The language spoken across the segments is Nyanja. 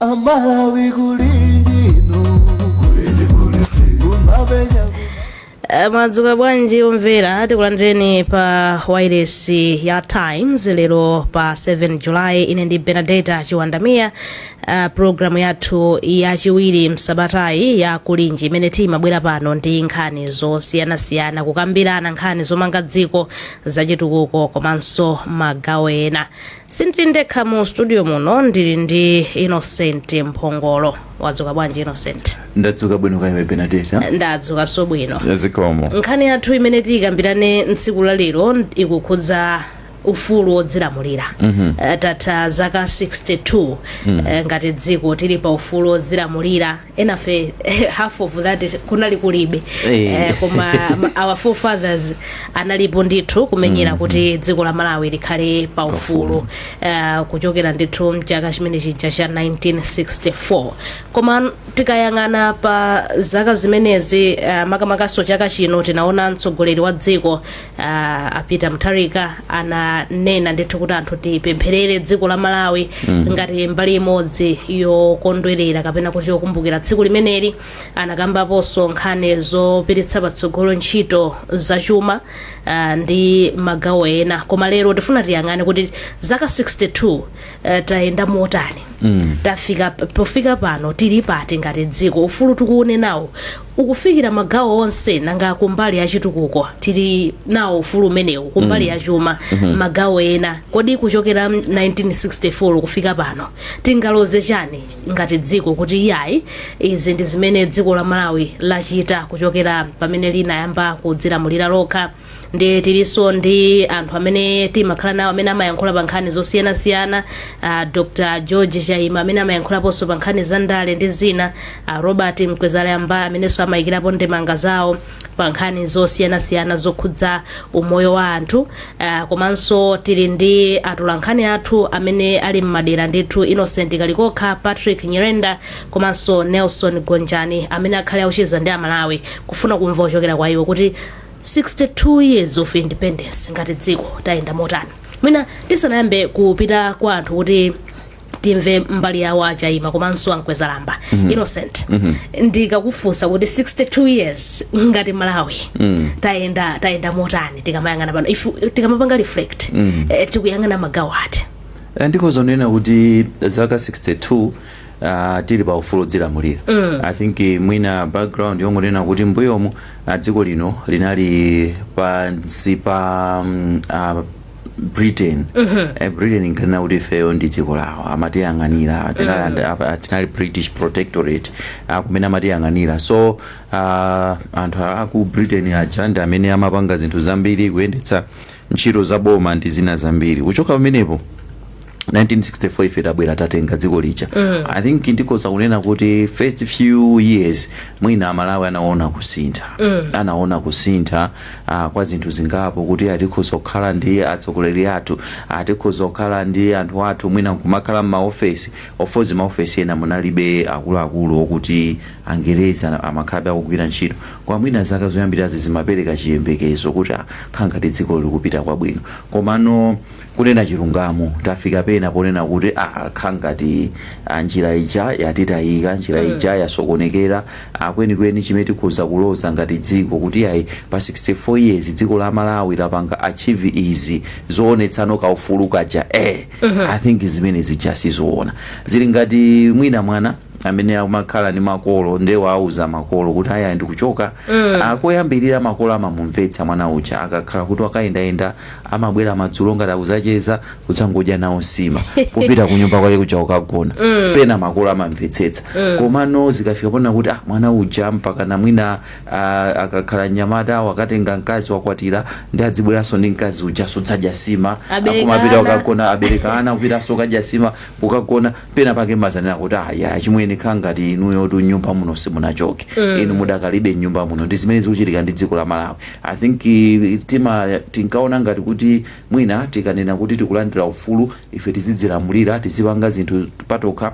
amalawi kulinji kumabenya Eh, mwadzuka bwanji omvera tikulandireni pa wairesi ya times lero pa 7 julayi ine ndi benadeta chiwandamiya uh, programu yathu yachiwiri m'sabatayi ya kulinji imene timabwera pano ndi nkhani zosiyanasiyana kukambirana nkhani zomanga dziko zachitukuko komanso magawo ena sindili ndekha mu studio muno ndili ndi innocent mphongolo wadzuka bwanji innocent ndadzuka bwino kaya iwe benadeta ndadzukanso bwino ya zikomo nkhani yathu imene tiyikambirane tsiku la lero ikukhudza ufulu wodzilamulira mm tatha zaka 62 mm ngati dziko tili pa ufulu wodzilamulira enafe half of that kunali kulibe Eh. Eh, koma ma- our forefathers analipo ndithu kumenyera kuti dziko la malawi likhale pa ufulu Eh, kuchokera ndithu mchaka chimene chija cha 1964 koma tikayang'ana pa zaka zimenezi eh, makamakaso chaka chino tinaona mtsogoleri wa dziko ah, a peter mutharika ananena ndithu kuti anthu tipempherere dziko la malawi ngati mbali imodzi yokondwerera kapena kuti yokumbukira tsiku limeneli anakambaponso nkhani zopititsa patsogolo ntchito zachuma ah, ndi magawo ena koma lero tifuna tiyang'ane kuti zaka 62 eh, tayenda motani pofika pano tili pati ngati dziko ufulu tikuunenawo ukufikira magawo onse nanga kumbali ya chitukuko tili nawo ufulu umenewu kumbali ya chuma magawo ena kodi kuchokera 1964 kufika pano tingaloze chani ngati dziko kuti iyayi izi ndi zimene dziko la malawi lachita kuchokera pamene linayamba kudzilamulira lokha ndi tilinso ndi anthu amene timakhala nawo amene amayankhula pa nkhani zosiyanasiyana uh, dr george chaima amene amayankhulaponso pa nkhani za ndale ndi zina uh, robert mkwezalamba amenenso amayikirapo ndemanga zawo pa nkhani zosiyanasiyana zokhudza umoyo wa anthu uh, komanso tili ndi atolankhani athu amene ali mmadera ndithu innocent kalikokha patrick nyirenda komanso nelson gonjani amene akhale akucheza ndi amalawi kufuna kumva kuchokera kwa iwo kuti 62 years of independence ngati dziko tayenda motani mwina tisanayambe kupita kwa anthu kuti timve mbali yawo a chaima komanso a mkwezalamba mm-hmm. innocent mm-hmm. ndikakufunsa kuti 62 years ngati malawi mm. tayenda tayenda motani tikamayang'ana pano if tikamapanga reflect mm. eh, tikuyang'ana magawo ati Eh, ndi kozonena kuti zaka 62 ah, tili pa ufulu wodzilamulira i think eh, mwina background yongonena kuti mbuyomu ah, dziko lino linali pansi pa mm, ah, britain Eh, britain inkanena kuti ifeyo ndi dziko lawo amatiyang'anira tinali and- apa- tinali british protectorate ah, kumene amatiyang'anira so ah, anthu aku britain aja ndi amene amapanga zinthu zambiri kuyendetsa ntchito za boma ndi zina zambiri kuchoka pamenepo 1964 ife tabwera tatenga dziko lija mm. i think ndikoza kunena kuti first few years mwina amalawi anaona kusintha mm. anaona kusintha uh, kwa zinthu zingapo kuti ah tikhoza kukhala ndi atsogoleri athu ah tikhoza kukhala ndi anthu athu mwina kumakhala mmaofesi of course maofesi ena munalibe akuluakulu okuti angerezi ana- amakhalabe akugwira ntchito kwa mwina zaka zoyambirazi zimapereka chiyembekezo kuti ah khala ngati dziko likupita kwabwino komano Kunena chilungamo tafika pena ponena kuti ah khala ngati ah, njira ija yatitayika njira mm. ija yasokonekera ah, kwenikweni chimene tikhoza kuloza ngati dziko kuti ayi pa 64 years dziko la malawi lapanga achieve izi zoonetsano kaufulu kaja eh, mm -hmm. i think chimenecho sindikuchiona zili ngati mwina mwana amene amakhala ndi makolo nde wauza makolo kuti ayi ndikuchoka mm. Ah, koyambirira makolo amamumvetsa mwana uja akakhala kuti wakayendayenda amabwera madzulo ngati akuzacheza kudzangodya nawo nsima kupita kunyumba kwake kuja kukagona mm. pena makolo amamvetsetsa mm. komano zikafika pona kuti ah, mwana uja mpaka namwina ah, akakhala mnyamata wakatenga mkazi wakwatira nde adzibweranso ndi mkazi uja kudzadya nsima akumapita kukagona abereka ana kupita kukadya nsima kukagona Pena pake mumadzanena kuti ayi achimwene khala ngati inuyotu mnyumba muno simunachoke inu mudakalibe mnyumba muno ndi zimene zikuchitika ndi dziko la Malawi I think tima tinkaona ngati kuti mwina tikanena kuti tikulandira ufulu ife tizidzilamulira tizipanga zinthu patokha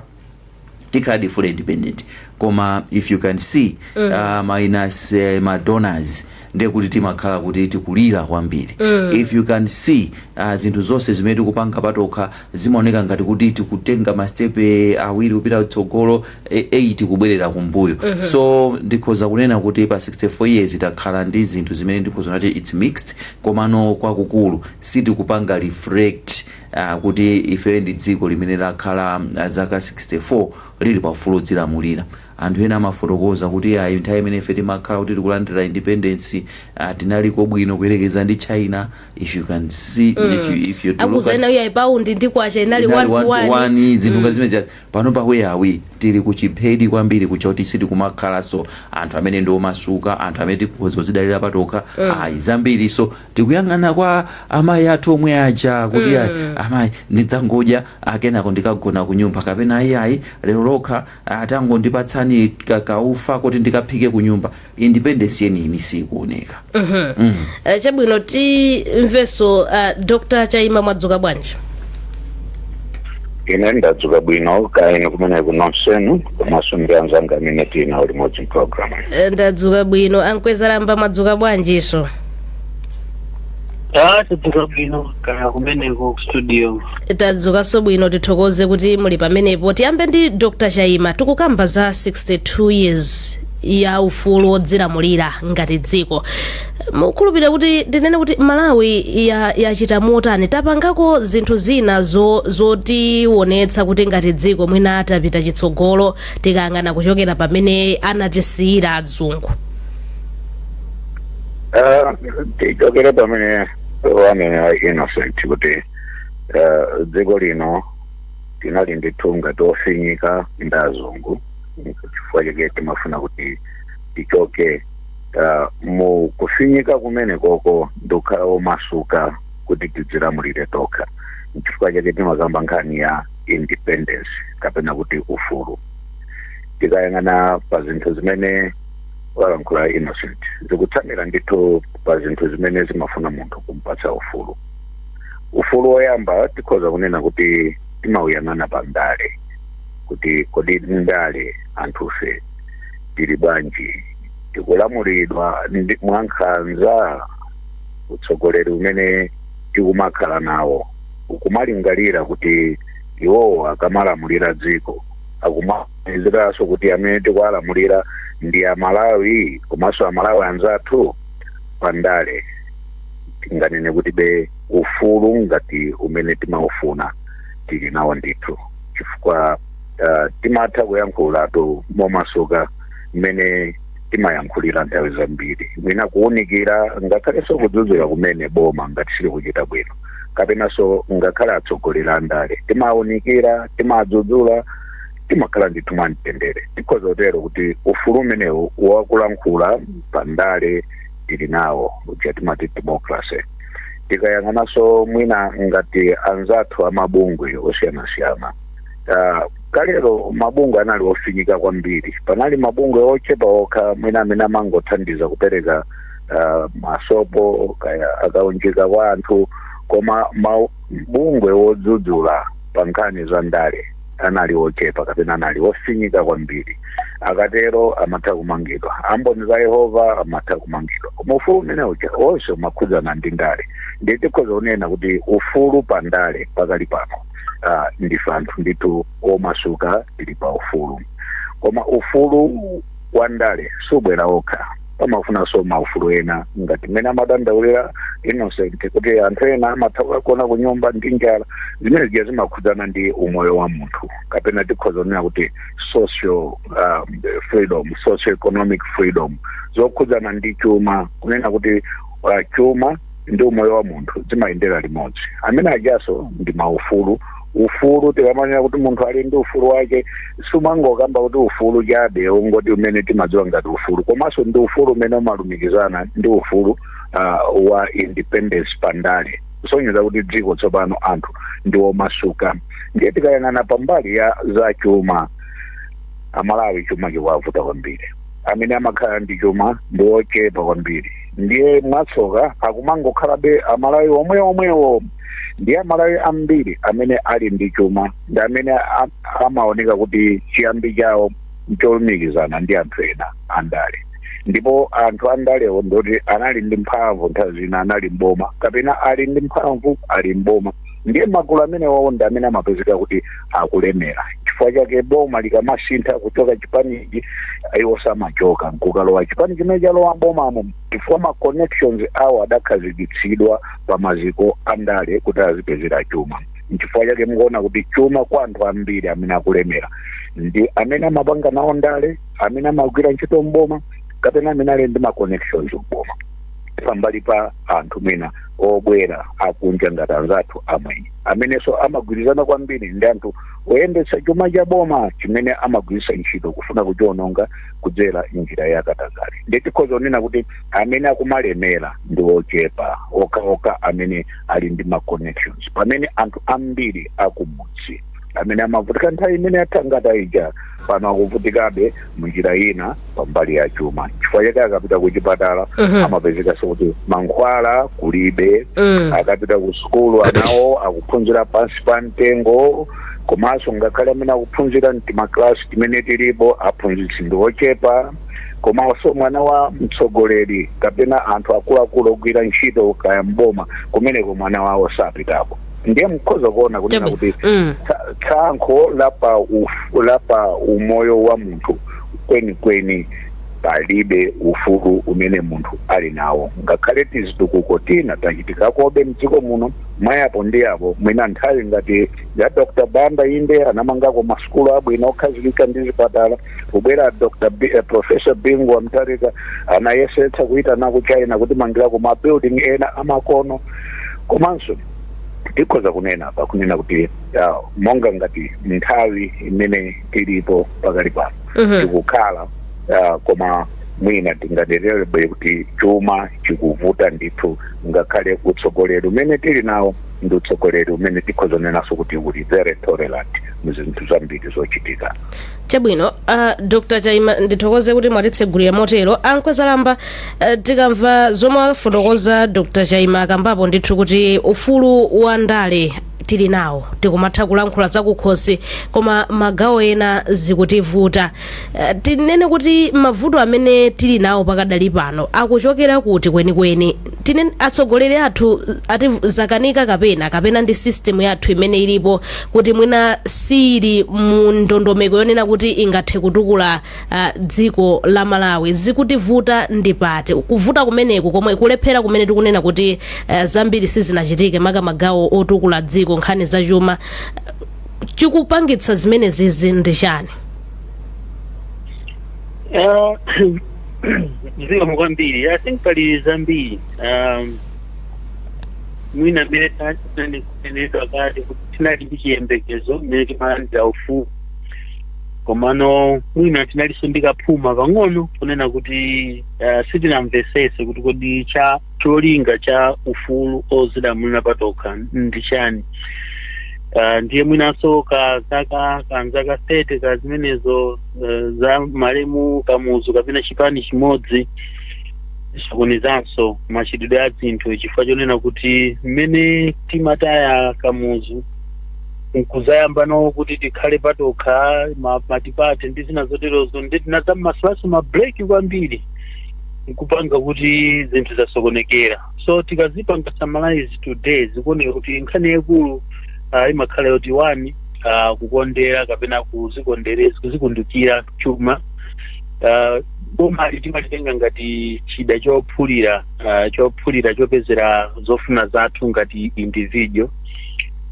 tikhaladi fully independent koma if you can see uh, minus uh, ma donors ndiye kuti timakhala kuti tikulira kwambiri if you can see uh, zinthu zonse zimene tikupanga patokha zimaoneka ngati kuti tikutenga masitepe awiri kupita kutsogolo 8 kubwerera kumbuyo so ndikhoza kunena kuti pa 64 years takhala ndi zinthu zimene ndikhoza kunena kuti its mixed komano kwakukulu sitikupanga reflect uh, kuti ife ndi dziko limene lakhala uh, zaka 64 lili paufulu wodzilamulira Anthu ena amafotokoza kuti, Iyayi, nthawi imene ife timakhala kuti tikulandira independence, ah, tinaliko bwino kuyerekeza ndi China. If you can see, if you, if you have to look Akuzanena uyayi paundi ndi kwacha inali inali 1 to 1 to 1. 1 zinthu ngati zimenezi pano pa where are we tili kuchiphedi kwambiri choti kuti sitikumakhalanso anthu amene ndi omasuka anthu amene tikhoza kuzidalira patokha ayi zambiri so tikuyang'ana kwa amayi athu omwe aja kuti ayi amayi ndidzangodya kenako ndikagona ku nyumba kapena ayi ayi lero lokha Ah, tangondipatsani ka, kaufa koti ndikaphike kunyumba. Independence yeniyeni siikuoneka. Eh, chabwino timvenso uh, dr chaima mwadzuka bwanji ine ndadzuka bwino kaya inu kumeneko nonsenu komanso ndi anzanga amene tinawo limodzi mpulogalamu Eh, ndadzuka bwino a Mkwezalamba mwadzuka bwanjinso Ah, tadzuka bwino kaya kumeneko ku studio. tadzukanso bwino tithokoze kuti muli pamenepo tiyambe ndi dr chaima tikukamba za 62 years ya ufulu wodzilamulira ngati dziko mukhulupirira kuti ndinene kuti malawi ya- yachita motani tapangako zinthu zina zo- zotiwonetsa kuti ngati dziko mwina tapita chitsogolo tikayang'ana kuchokera pamene anatisiyira adzungu Ah, tichokere pamene wanena innocent kuti eh, dziko lino tinali ndithu ngati tofinyika ndi azungu chifukwa chake timafuna kuti tichoke ah, mu kufinyika kumenekoko ndikukhala omasuka kuti tidzilamulire tokha nchifukwa chake timakamba nkhani ya independence kapena kuti ufulu tikayang'ana pa zinthu zimene walankhula innocent zikutsamira ndithu pa zinthu zimene zimafuna munthu kumpatsa ufulu ufulu woyamba tikhoza kunena kuti timauyang'ana pa ndale kuti kodi ndale anthufe tili bwanji tikulamulidwa ndi- mwankhanza utsogoleri umene tikumakhala nawo ukumalingalira kuti iwowo akamalamulira dziko akuma Dziwanso kuti amene tikuwalamulira ndi a Malawi komanso a Malawi anzathu? Pa ndale tinganene kuti be ufulu ngati umene timaufuna tili nawo ndithu chifukwa uh, timatha kuyankhulatu momasuka mmene timayankhulira nthawi zambiri mwina kuwunikira ngakhalenso kudzudzula kumene boma ngati silikuchita bwino kapenanso ngakhale atsogoleri andale timawunikira timadzudzula timakhala ndithu mwamtendere tikhoza kutero kuti ufulu umenewu wakulankhula pandale tili nawo uja timati democracy tikayang'ananso mwina ngati anzathu amabungwe osiyanasiyana Ah, kalero mabungwe anali ofinyika kwambiri panali mabungwe ochepa okha mwina amene amangothandiza kupereka ah, masopo kaya a kaunjika kwa anthu koma mabungwe wodzudzula pa nkhani za ndale anali ochepa kapena anali ofinyika kwambiri akatero amatha kumangidwa amboni za yehova amatha kumangidwa koma ufulu umene uja onse umakhudzana ndi ndale ndiye tikhoza kunena kuti ufulu pa ndale pakali pano ah, ndife anthu ndithu omasuka tili pa ufulu koma ufulu wandale subwera wokha pamafunikanso maufulu ena ngati mmene amadandaulira innocent kuti anthu ena amatha kukagona ku nyumba ndi njala zimene zija zimakhudzana ndi umoyo wa munthu kapena tikhoza kunena kuti social um, freedom socio economic freedom zokhudzana ndi chuma kunena kuti uh, chuma ndi umoyo wa munthu zimayendera limodzi amene ajaso ndi maufulu ufulu tikamanena kuti munthu ali ndi ufulu wake sumangokamba kuti ufulu chabe ungoti umene timadziwa ngati ufulu komanso ndi ufulu umene umalumikizana ndi ufulu uh, wa independence pandale kusonyeza kuti dziko tsopano anthu ndi omasuka ndiye tikayang'ana pambali ya za chuma amalawi chuma chikuwavuta kwambiri amene amakhala ndi chuma ndi ochepa kwambiri ndiye mwatsoka akumangokhalabe amalawi omwe omwewo ndiye amalawi ambiri amene ali ndi chuma ndi amene a- amaoneka kuti chiyambi chawo ncholumikizana ndi anthu ena andale ndipo anthu andalewo ndoti anali ndi mphamvu nthawi zina anali mboma kapena ali ndi mphamvu ali mboma ndiye magulu amenewawo ndi amene amapezeka kuti akulemera chifukwa chake boma likamasintha kuchoka chipanichi iwonso amachoka nkukalowa chipani chimene chalowa mbomamo chifukwa ma connections awo adakhazikitsidwa pa maziko andale kuti azipezera chuma nchifukwa chake mukuona kuti chuma kwa anthu ambiri amene akulemera ndi amene amapanga nawo ndale amene amagwira ntchito mboma kapena amene ali ndi ma connections mboma pambali pa anthu mwina obwera akunja ngati anzathu amwenye amenenso amagwirizana kwambiri ndi anthu oyendetsa chuma cha boma chimene amagwiritsa ntchito kufuna kuchiononga kudzera njira ya katangale ndiye tikhoza kunena kuti amene akumalemera ndi ochepa okhaokha amene ali ndi ma connections pamene anthu ambiri akumudzi amene amavutika nthawi imene yathangata ija pano akuvutikabe mu njira ina pambali ya chuma chifukwa chake akapita ku chipatala Mhm. amapezekanso kuti mankhwala kulibe Mm. akapita ku sukulu anawo akuphunzira pansi pa mtengo komanso ngakhale amene akuphunzira mtimaklasi timene tilipo aphunzitsi ndi ochepa komanso mwana wa mtsogoleri kapena anthu akuluakulu ogwira ntchito kaya m'boma kumeneko mwana wawo sapitako ndiye mukhoza kuona kunena kuti Mm. tsa- tsankho la pa uf- la pa umoyo wa munthu kwenikweni palibe ufulu umene munthu ali nawo ngakhale tizitukuko tina tachitikakobe mdziko muno mwa apo ndi apo mwina nthawi ngati ya dr banda inde anamangako masukulu abwino okhazikika ndi zipatala kubwera dr B, eh, professor bingu wa mtarika anayesetsa kuitanako china kutimangirako mabuilding ena amakono komanso tikhoza kunena apa kunena kuti ah, monga ngati nthawi imene tilipo pakali pano Mhm. tikukhala ah, koma mwina tinganenebe kuti chuma chikuvuta ndithu ngakhale utsogoleri umene tili nawo ndi utsogoleri umene tikhoza kunenanso kuti uli very tolerant mu zinthu zambiri zochitika chabwino uh, dr chaima ndithokoze kuti mwatitsegulira motero a nkwezalamba uh, tikamva zomwe afotokoza dr chaima akambapo ndithu kuti ufulu wa ndale tili nawo tikumatha kulankhula zakukhosi koma magawo ena zikutivuta uh, tinene kuti mavuto amene tili nawo pakadali pano akuchokera kuti kwenikweni tinene atsogoleri athu zawakanika kapena kapena ndi system yathu imene ilipo kuti mwina siili mu ndondomeko yonena kuti ingathe kutukula ah, dziko la malawi zikutivuta ndi pati kuvuta kumeneku komwe kulephera kumene tikunena kuti ah, zambiri sizinachitike maka magawo otukula dziko nkhani za chuma chikupangitsa zimenezizi ndi chani Eh, zikomo kwambiri i think pali zambiri um, mwina mmene taneneka kale kuti tinali ndi chiyembekezo mmene timalandira ufulu komano mwina tinalinso ndi kaphuma pang'ono kunena kuti uh, sitinamvesese kuti kodi cha cholinga cha ufulu ozilamulira patokha ndi chani uh, ndiye mwinanso ka zaka kanzaka 30 ka zimene zo eh, za malemu kamuzu kapena chipani chimodzi zinasokonezanso machitidwe a zinthu chifukwa chonena kuti mmene timataya kamuzu nkuzayamba nawo kuti tikhale patokha ma- matipate ndi zina zoterozo ndi tinazammasulaso mabreki kwambiri nkupanga kuti zinthu zasokonekera so tikazipanga summarize today zikuoneka kuti nkhani yaikulu ah, imakhala yoti one uh, kukondera kapena kuzikundukira chuma uh, bomali timalitenga ngati chida chophulira uh, chophulira chopezera zofuna zathu ngati individual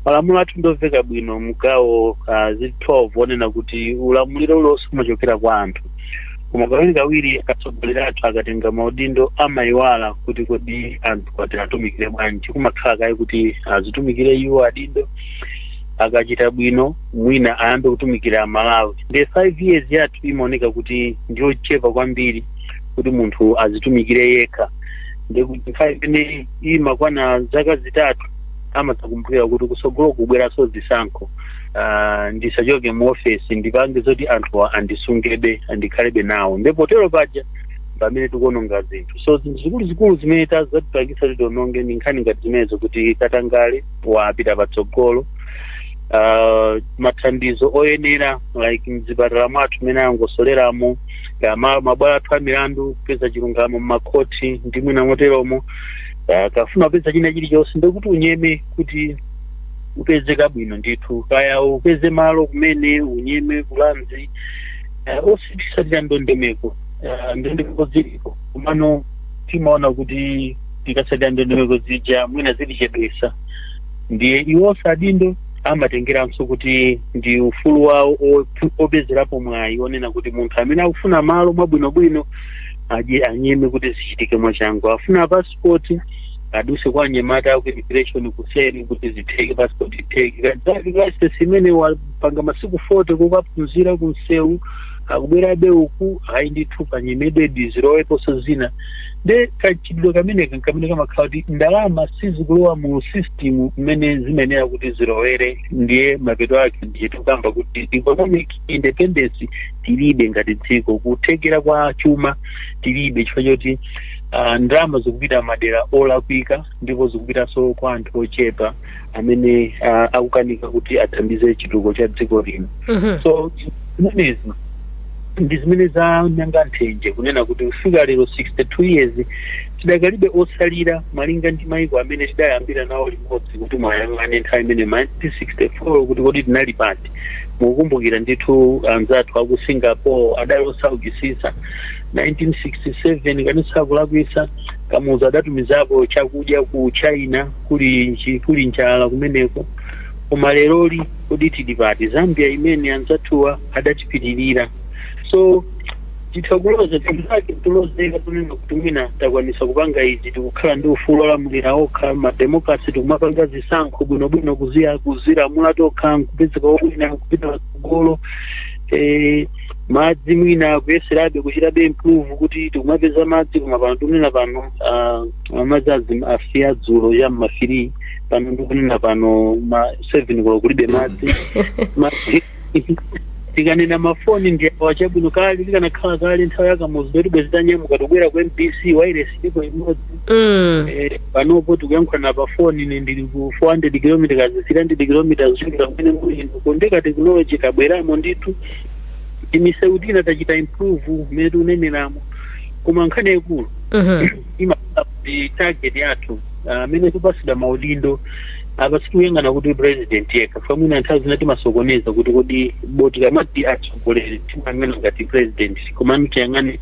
malamulo athu ndomveka bwino mgawo uh, zili 12 onena kuti ulamuliro ulonse umachokera kwa anthu koma kawirikawiri atsogoleri athu akatenga maudindo amayiwala kuti kodi anthuwa tiwatumikire bwanji kumakhala kaye kuti azitumikire iwo adindo akachita bwino mwina ayambe kutumikira amalawi nde 5 years yathu imaoneka kuti ndiyochepa kwambiri kuti munthu azitumikire yekha ndekuti nthawi imene imakwana zaka zitatu amadzakumbukira kuti kusogolo kubweranso zisankho Ah, ndisachoke mu ofesi ndipange zoti anthuwa andisungebe andikhalebe nawo nde potero paja pamene tikuononga zinthu so zinthu zikuluzikulu zimene ta- zatipangisa kuti tiononge ndi nkhani ngati zimenezo kuti katangale wapita patsogolo uh, mathandizo oyenera like mzipatala mwathu mmene angosoleramo ya ma- mabwalo athu a milandu kupeza chilungamo mmakhoti ndi mwina moteromo uh, ukafuna kupeza china chilichonse ndekuti unyeme kuti upeze kabwino ndithu kaya upeze malo kumene unyeme ku Lands uh, osatsatira ndondomeko uh, ndondomeko ziliko komano timaona kuti tikasatira ndondomeko zija mwina zitichedwesa ndiye iwonso adindo amatengeranso kuti ndi ufulu wawo opu- opezerapo mwayi onena kuti munthu amene akufuna malo mwabwinobwino aje anyeme kuti zichitike mwachangu afuna pasipoti aduse kwa anyamata aku immigration kuseri kuti zitheke passport itheke kadzati license imene wapanga masiku 40 kukaphunzira kunsewu akubwerabe uku ayi ndithu panyemedwe ndi ziroweponso zina nde kachitidwe kameneka nkamene kamakhala kuti ndalama sizikulowa mu system mmene zimayenera kuti zilowere ndiye mapeto ake ndicho tikukamba kuti economic independence tilibe ngati dziko kuthekera kwa chuma tilibe chifukwa choti ah, ndalama zikupita madera olakwika ndipo zikupitanso kwa anthu ochepa amene ah, akukanika kuti athandize chitukuko cha dziko lino Mhm. so zimenezi ndi zimene zamanga nthenje kunena kuti kufika lero 62 years tidakalibe osalira malinga ndi maiko amene tidayambira nawo limodzi kuti muyang'ane nthawi imene 1964 kuti kodi tinali pati mukukumbukira ndithu anzathu aku singapore adali osaukisisa 1967 ngati sindikulakwisa kamuzu adatumizako chakudya ku china kuli njala kumeneko koma leroli kodi tili pati zambia imene anzathuwa adatipitirira so titha kuloza zinazake zolozeka zonena kuti mwina takwanisa kupanga izi tikukhala ndi ufulu odzilamulira tokha mademokrasi tikumapanga zisankho bwinobwino kuziya kuzilamula tokha nkupezeka wina kupita patsogolo eh, madzi mwina kuyeserabe kuchitabe improve kuti tikumapeza madzi koma pano tikunena pano ah, madzi asiya dzulo cha mma 3 pano ndikunena pano ma 7 kuno kulibe madzi tikanena mafoni ndi awa chabwino kale likanakhala kale nthawi ya kamuzu bwezi titanyamuka tobwera ku mbc wairesi ilipo imodzi Mm. Eh, panopo tikuyankhulana pa foni ine ndili ku 400 km 300 km kuchokera kumene muli inu ndiye ka technology kabweramo ndithu timisewu tina tachita improve mmene tikuneneramu koma nkhani yaikulu Mhm. imakhala kuti target yathu ah, amene tipatsidwa maudindo apa sitikuyang'ana kuti president yekha chifukwa mwina nthawi zina timasokoneza kuti kodi poti tikamati atsogoleri timayang'ana ngati president komano tiyang'ane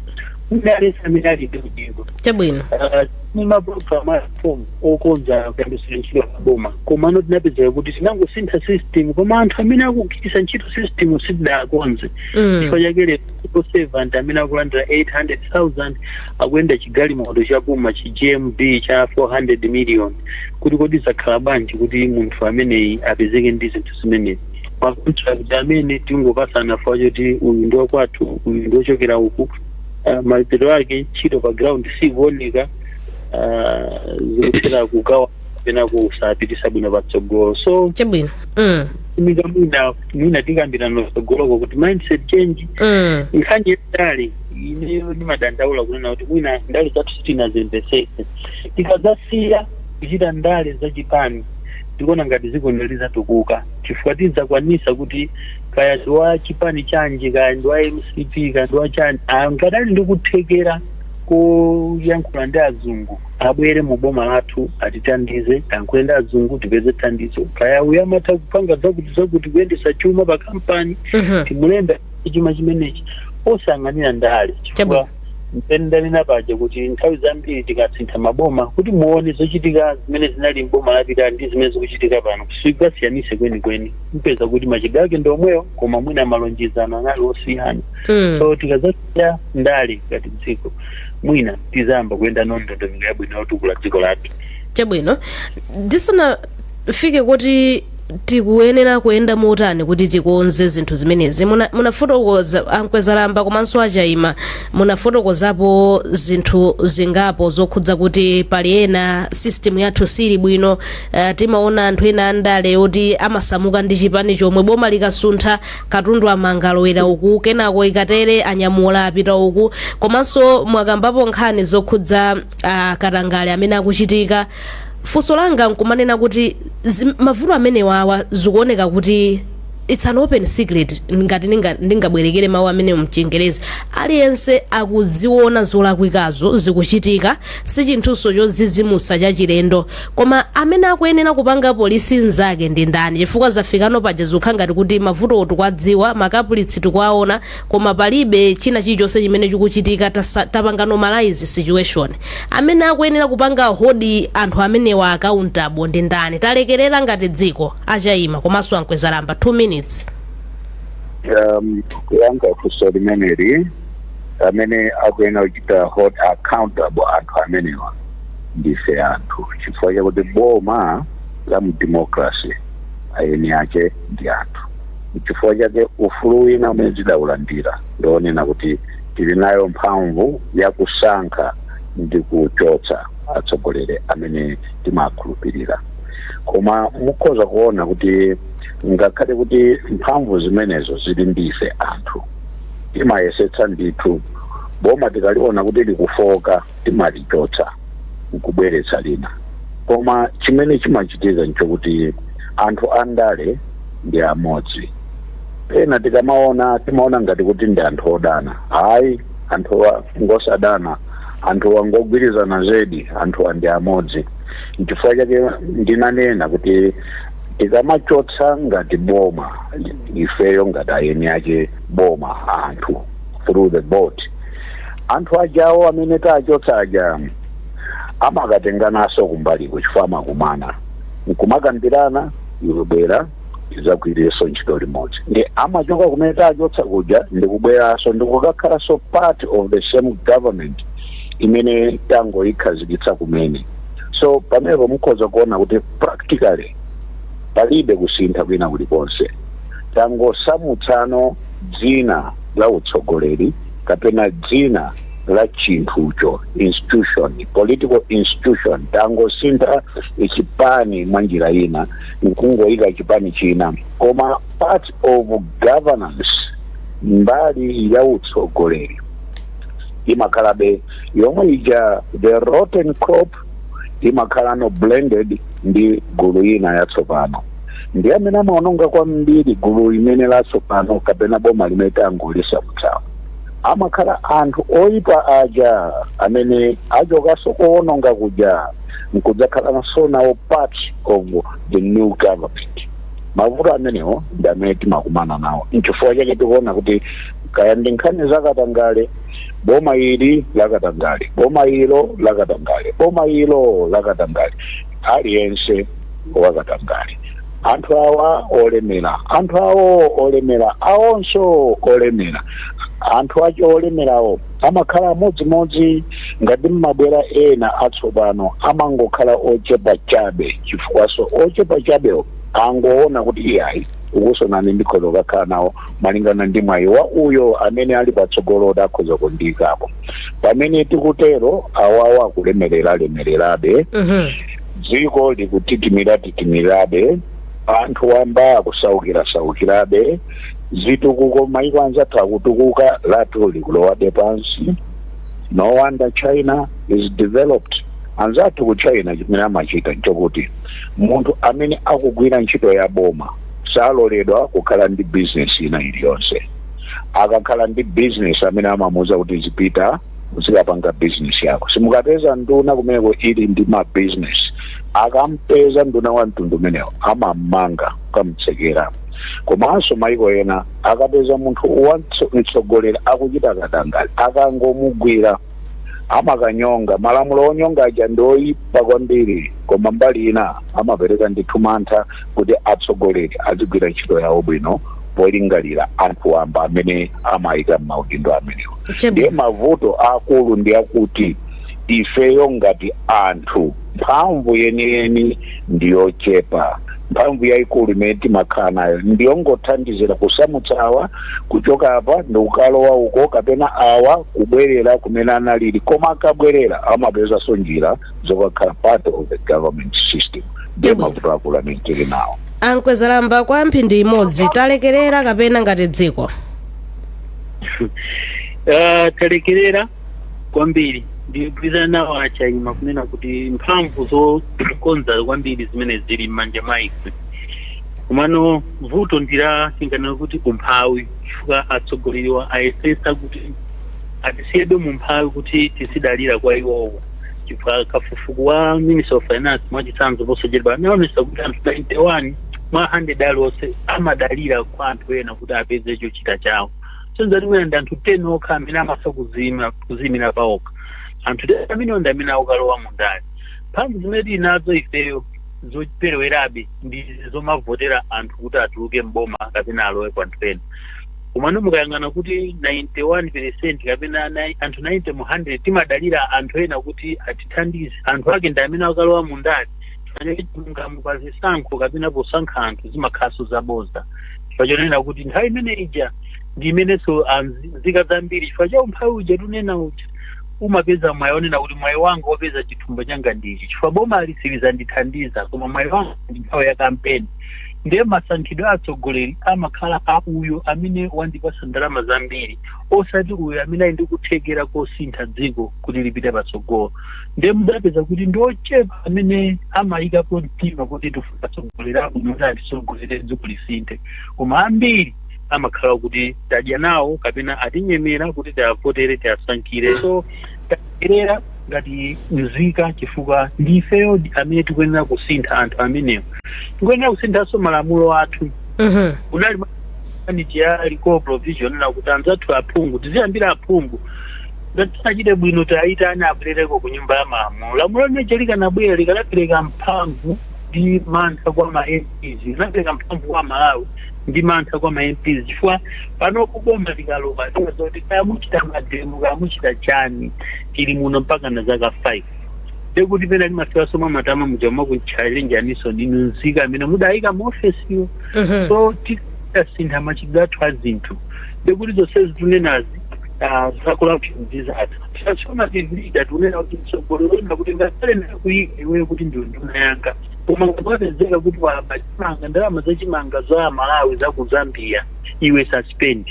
kuti aliyense amene ali ndi udindo chabwino Ah, Ndi mapulogalamu a reform okonza kagwiridwe ka ntchito za boma komano tinapezeka kuti tinangosintha system koma anthu amene akugwiritsa ntchito system sitidakonze Mm. chifukwa chake lero civil servant amene akulandira 800,000 akuyenda chigalimoto chapamwamba chi gmc cha 400 million kuti kodi zakhala bwanji kuti munthu ameneyi apezeke ndi zinthu zimenezi makontrakt amene tingopasana chifukwa choti uyu ndi wakwathu uyu ndi wochokera uku ah, mapeto ake ntchito pa ground sikuoneka ah, zikuthera kugwa kapena kusapitisa bwino patsogolo so chabwino mm. unika mwina mwina tikambirana patsogoloko kuti mindset change Mm. nkhani yandale ineyo ndimadandaula kunena kuti mwina ndale zathu sitinazimvesese tikadzasiya kuchita ndale zachipani tikuona ngati dziko ili lizatukuka chifukwa tidzakwanisa kuti kaya ndi wa chipani chanji kaya ndi wa mcp kaya ndi wa chani ngati ali ndi kuthekera koyankhula ndi azungu abwere mu boma lathu atithandize ayankhule ndi azungu tipeze thandizo kaya uyo amatha kupanga zakuti zakuti kuyendesa chuma pa kampani Mhm. timulembe tchuma chimenechi osang'anira ndale chifukwa mpamene ndanena paja kuti nthawi zambiri tikasintha maboma kuti muone zochitika zimene zinali mboma lapitali ndi zimene zikuchitika pano sungasiyanitse kwenikweni mupeza kuti machitidwe ake ndi omwewo koma mwina malonjezano anali osiyana Mm. so tikazasiya ndale ngati dziko mwina tizayamba kuyenda ndi ndondomeko yabwino yotukula dziko lathu chabwino ndisanafike kuti tikuyenera kuyenda motani kuti tikonze zinthu zimenezi Muna- munafotokoza ankwezalamba komanso achaima munafotokozapo zinthu zingapo zokhudza kuti pali pena system yathu sili bwino Uh, timaona anthu ena andale oti amasamuka m'chipani chomwe boma likasuntha katundu amanga alowera uku kenako ikatere anyamula apita uku komanso mwakambapo nkhani zokhudza uh, katangale amene akuchitika funso langa nkumanena kuti mavuto amenewa awa zikuoneka kuti it's an open secret ngati ndingabwerekere mawu amene mchingerezi aliyense akuziona zolakwikazo zikuchitika si chinthuso chodzidzimutsa chachilendo Koma amene akuyenera kupanga police nzake ndi ndani chifukwa zafikano paja zikukhala ngati kuti mavutowo tikuwadziwa, ma culprits tikuwaona koma palibe china chilichonse chimene chikuchitika tasa, tapanga normalise situation. Amene akuyenera kupanga hold anthu amenewa accountable ndi ndani? Talekerera ngati dziko? A Chaima komanso a Nkwezalamba 2 minutes. um, kuyankha funso limeneli amene akuyenera kuchita hold accountable anthu amenewa ndife anthu chifukwa chakuti boma la mu democracy a eni ake ndi anthu. Nchifukwa chake ufulu wina umene tidaulandira ndi wonena kuti tili nayo mphamvu ya kusankha ndi kuchotsa atsogoleri amene timawakhulupirira. Koma mukhoza kuona kuti ngakhale kuti mphamvu zimenezo zili ndi ife anthu, timayesetsa ndithu boma tikaliona kuti likufooka, timalichotsa n'kubweretsa lina. Koma chimene chimachitika n'chakuti anthu andale ndi amodzi. Pena tikamaona timaona ngati kuti ndi anthu odana. Ayi, anthuwa ngosadana. Anthuwa ngogwirizana zedi. Anthuwa ndi amodzi. N'chifukwa chake ndinanena kuti tikamachotsa ngati boma, ifeyo ngati a eni ake boma, anthu. through the vote anthu ajawo amene tachotsa aja amakatengananso kumbaliku chifukwa amakumana nkumakambirana iwe bwera tidzagwirenso ntchito limodzi ndi amachoka kumene tachotsa kuja ndikubweranso ndikukakhalanso part of the same government imene tangoyikhazikitsa kumene so pamenepo mukhoza kuona kuti practically palibe kusintha kwina kulikonse tangosamutsano dzina la utsogoleri kapena dzina la chinthucho institution political institution tangosintha chipani mwa njira ina nkungoyika chipani china koma part of governance mbali ya utsogoleri imakhalabe yomwe ija the rotten crop imakhalano blended ndi gulu lina yatsopano ndi amene amaononga kwambiri gulu limene latsopano kapena boma limene tangolisankhalo amakhala anthu oyipa aja amene achokanso kowononga kuja nkudzakhalanso nawo part of the new government mavuto amenewo ndi amene timakumana nawo nchifukwa chake tikuona kuti kaya ndi nkhani zakatangale boma ili lakatangale boma ilo lakatangale boma ilo lakatangale aliyense wakatangale anthu awa olemera anthu awo olemera awonso olemera anthu acho olemerawo amakhala amodzimodzi ngati mmabwera ena atsopano amangokhala ochepa chabe chifukwanso ochepa chabewo angoona kuti iyayi ukuso onani ndikhoza kukakhala nawo malingana ndi mwayi wa uyo amene ali patsogolo kuti akhoza kundiikapo pamene tikutero awawa akulemerera lemererabe Mhm. dziko likutitimira titimirabe anthu wamba akusaukira saukirabe zitukuko maiko anzathu akutukuka lathu likulowabe pansi no wonder china is developed anzathu ku china chimene amachita nchokuti munthu amene akugwira ntchito ya boma saloledwa kukhala ndi bizinesi ina iliyonse akakhala ndi bizinesi amene amamuuza kuti zipita uzikapanga bizinesi yako simukapeza nduna kumeneko ili ndi mabizinesi akampeza nduna wa mtundu umenewo amammanga nkumutsekera komanso maiko ena akapeza munthu wa mtso- mtsogoleri akuchita katangale akangomugwira amakanyonga. Malamulo onyonga aja ndi oyipa kwambiri koma mbali ina amapereka ndithu mantha kuti atsogoleri azigwira ntchito yawo bwino polingalira anthu wamba amene amayika m'maudindo amenewa. Chabwino. Ndiye mavuto akulu ndi akuti ifeyo ngati anthu mphamvu yeniyeni ndi yochepa mphamvu yayikulu imene timakhala nayo ndiyongothandizira kusamutsa awa kuchoka apa ndikukalowa uko kapena awa kubwerera kumene analili koma akabwerera amapezanso njira zokakhala part of the government system ndiye Chabwino. mavuto akulu amene tili nawo a Nkwezalamba kwa mphindi imodzi talekerera kapena ngati dziko uh, talekerera kwambiri ndigwirizana nawo achaima kunena kuti mphamvu zokonza kwambiri zimene zili m'manja mwa ife komano vuto ndi la tinganena kuti umphawi chifukwa atsogoleriwa ayesesa kuti atisiyebe mu mphawi kuti tizidalira kwa iwowo chifukwa kafukufuku wa minister of finance mwachitsanzo posachedwa anaonesa kuti anthu 91 mwa 100 alionse amadalira kwa anthu ena kuti apeze chochita chawo zosonyeza kuti mwina ndi anthu 10 okha amene amatha kuziyimira paokha anthu 10 amenewo ndi amene akukalowa mu ndale mphamvu zimene tili nazo ifeyo zoperewerabe ndi zomavotera anthu kuti atuluke mboma kapena alowe kwa anthu ena komano mukayang'ana kuti 91 percent kapena anthu 90 mu 100 timadalira anthu ena kuti atithandize anthu ake ndi amene akalowa mu ndale chifukwa chake chilungamo pa zisankho kapena posankha anthu zimakhalanso zaboza chifukwa chonena kuti nthawi imene ija ndi imenenso nzika zambiri chifukwa cha umphawi uja tunena uja umapeza mwayi onena kuti mwayi wanga wopeza chithumba changa ndichi chifukwa boma silizandithandiza koma mwayi wanga ndi nthawi ya kampeni ndiye masankhidwe a atsogoleri amakhala a uyo amene wandipasa ndalama zambiri osati uyo amene ali ndi kuthekera kosintha dziko kuti lipite patsogolo ndiye mukapeza kuti ndi ochepa amene amayikapo mtima kuti tifuna atsogoleri abwino kuti atitsogolere dziko lisinthe koma ambiri amakhala kuti tadya nawo kapena atinyemera kuti tiavotere tiasankhire so talekerera ngati mzika chifukwa ndi ifeyo amene tikuyenera kusintha anthu amenewo tikuyenera kusinthanso malamulo athu kunali ija ya recall provision lakuti anzathu aphungu tiziyambira aphungu Ngati sanachite bwino tiayitane abwerereko ku nyumba ya malamulo. Lamulo limeja likanabwera likanapereka mphamvu ndi mantha kwa ma MPs, likanapereka mphamvu kwa Malawi ndi mantha kwa ma MPs chifukwa panopo boma likalowa limadziwa kuti kaya muchita mademo kaya muchita chani tili muno mpakana zaka 5 ndiye kuti pena limafikanso mwa matama muja nkumakuchalenjaninso inu nzika amene mudayika mu ofesiyo so tikasintha machitidwe athu a zinthu ndiye kuti zonsezi tunenazi zacorruption zizatha transformative leader tikunena kuti mtsogoleri wonena kuti ngakhale ndakuyika iweyo kuti ndiwe nduna yanga koma ngati wapezeka kuti waba chimanga ndalama za chimanga za amalawi za ku zambia iwe suspend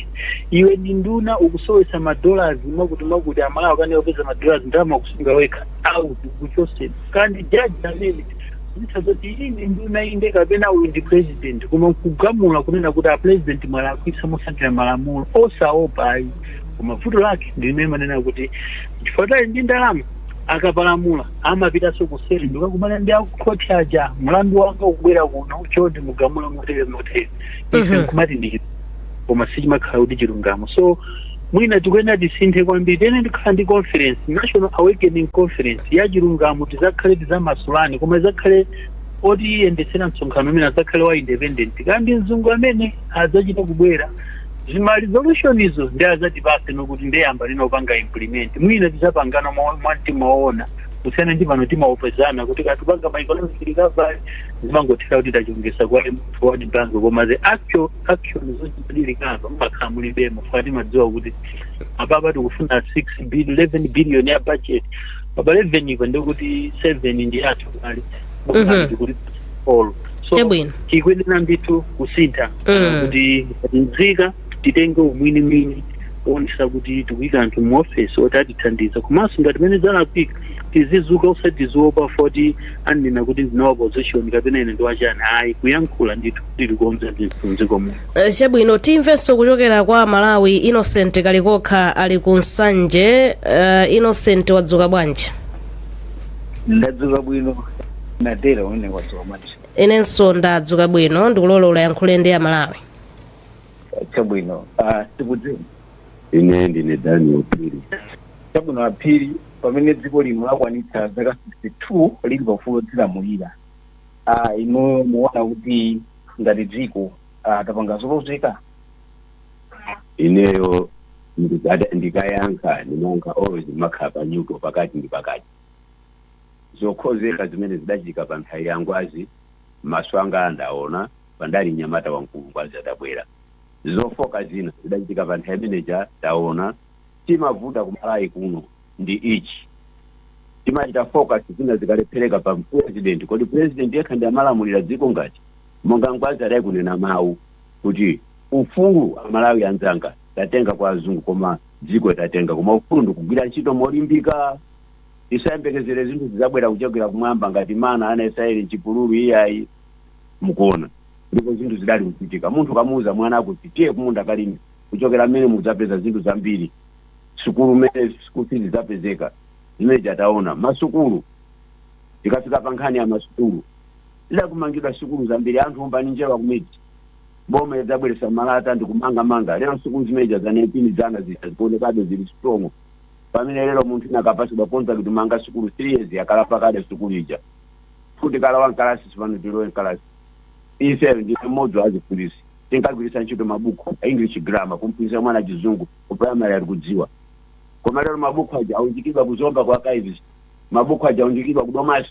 iwe ndi nduna ukusowesa madollars mwakuti mwakuti amalawi akukanika kupeza madollars ndalama ukusunga wekha out kuchose kaya ndi jaji amene akudziwa zoti iyi ndi nduna inde kapena uyu ndi president koma nkugamula kunena kuti a president mwalakwitsa mosatira malamulo osaopa ayi koma vuto lake ndi limene manena kuti chifukwa choti ali ndi ndalama akapalamula amapitanso kuseri nkukakumana ndi akukhoti aja mlandu wanga ukubwera kuno choti mugamule motere motere ife nkumati ndi koma sichimakhala kuti chilungamo so mwina tikuyenera tisinthe kwambiri tiyenera tikhale ndi conference national awakening conference ya chilungamo tizakhale tizamasulane koma izakhale otiyendetsera msonkhano umenewo azakhale wa independent kaya ndi mzungu amene adzachita kubwera zima resolution izo nde azatipase nokuti nde yambanino kupanga implement mwina tizapangana mwa mwa mtima oona kusiyana ndi pano timangopezana kuti akuti tipanga ma economic recovery zimangothera kuti tachongesa kwa World Bank koma the actual action zochitika apa mumakhala mulibemo foti timadziwa kuti apapa tikufuna 6 billion 11 billion ya budget apapa 11 ipo ndikuti 7 ndi athu kale Mhm. kuti all so Chabwino. tikuyenera ndithu kusintha Mm. kuti nzika titenge umwini mwini kuonesa kuti tikuyika anthu mu office oti atithandiza komanso ngati pamene zalakwika tizidzuka osati tiziopa foti anena kuti ndine wa opposition kapena ine ndiwachani ayi kuyankhula ndithu tilikonze ndithu mdziko muno Eh, chabwino timvenso kuchokera kwa amalawi innocent kalikokha ali ku nsanje uh, innocent wadzuka bwanji ndadzuka bwino madala inu wadzuka bwanji inenso ndadzuka bwino ndikulola ulayankhule ndi amalawi chabwino ah, tikudziwa ine ndine Daniel Phiri chabwino aphiri pamene dziko lino lakwanitsa zaka 62 lili paufulu odzilamulira Ah, inuyo muwona kuti ngati dziko ah, tapanga zolozeka ineyo ndikada- ndikayankha ndimayankha always ndimakhala pa nyuto pakati ndi pakati zolozeka zimene zidachitika pa nthawi ya ngwazi maso anga andaona poti ndali mnyamata wamkulu ngwazi adabwera zofooka zina zidachitika pa nthawi imeneja taona chimavuta kumalawi kuno ndi ichi. Timachita focus zina zikalephereka pa president. Kodi president yekha ndiye amalamulira dziko ngati? Monga Ngwazi adali kunena mawu kuti ufulu amalawi anzanga tatenga kwa azungu koma dziko tatenga koma ufulu ndikugwira ntchito molimbika. Tisayembekezere zinthu zizabwera kuchokera kumwamba ngati mana a ana a Israeli mchipululu iyayi. Mukuona? Ndipo zinthu zidali kuchitika. Munthu ukamuuza mwana kuti tiye kumunda kalime kuchokera mmenemo udzapeza zinthu zambiri. sukulu mmenemo school fees idzapezeka zimene zija taona masukulu tikafika pa nkhani ya masukulu zidali kumangidwa sukulu zambiri anthu umbani njerwa kumidzi boma idzabweretsa malata ndikumangamanga lero sukulu zimene zija za 19 dzana zija zikuonekabe zili strong pamene lero munthu wina akapatsidwa contract kumanga sukulu 3 years yakalamba kale sukulu ija futi tikalowa mkalasi tsopano tilowe mkalasi ife ndi mmodzi wa aziphunzitsi tinkagwiritsa ntchito mabuku a english grammar kumphunzitsa mwana chizungu ku primary ali kudziwa koma lero mabuku aja aunjikidwa ku zomba kwa Kayivisi mabuku aja aunjikidwa ku domasi